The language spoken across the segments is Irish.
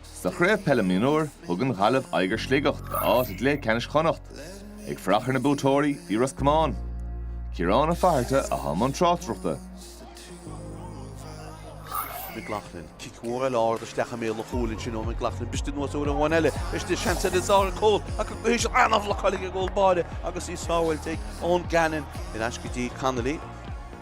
Sa Chraobh Peile Mionúir thug an Ghaillimh aghaidh ar Shligeach d'áit i gcluiche leathcheannais Chonnacht. Ag fanacht ar na buaiteoirí bhí Ros Comáin. Ciarán Ó Fatharta i mbun na tráchtaireachta. McLaughlin. Cic mór eile ard isteach i mbéal an chúil ansin ó McLaughlin. Briste anuas uair amháin eile. Briste seans eile d'Dara Cole ach ag guí sin an-bhlocáiligh ag an gcúl báire agus í sábháilte ag Eoin Gannon in aisce go dtí Connolly.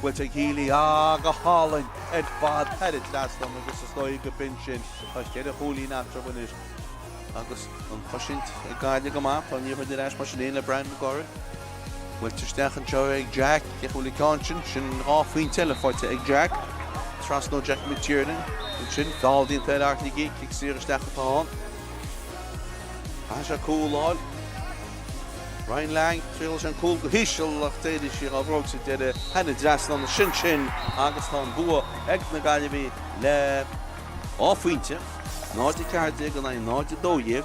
Bhuel, tá Healy go hálainn ar fad thar an trasnán agus is dóigh go b'in sin. Tá cheithre chúilín eatarthu anois. Agus an chosaint ag Gaillimh go maith, tá Ní Chuinn ar ais mar sin fhéin le Brian McGorry. Buailte isteach anseo ag Jack, gheobhaidh sé an ceann sin? Sin dhá phointe eile faighte ag Jack. Trasna ó Jack McTiernan ansin, feall déanta ar Art Higgey, cic saor isteach atá ann. Caithfidh sé cúl a fháil. Ryan Lang, Thriail sé an cúl go híseal ach d'éirigh sí dhá bhróig sa deireadh. thar an trasnán, sin sin agus tá an bua ag na Gaillimhigh le dhá phointe, 0-14 in aghaidh 0-12.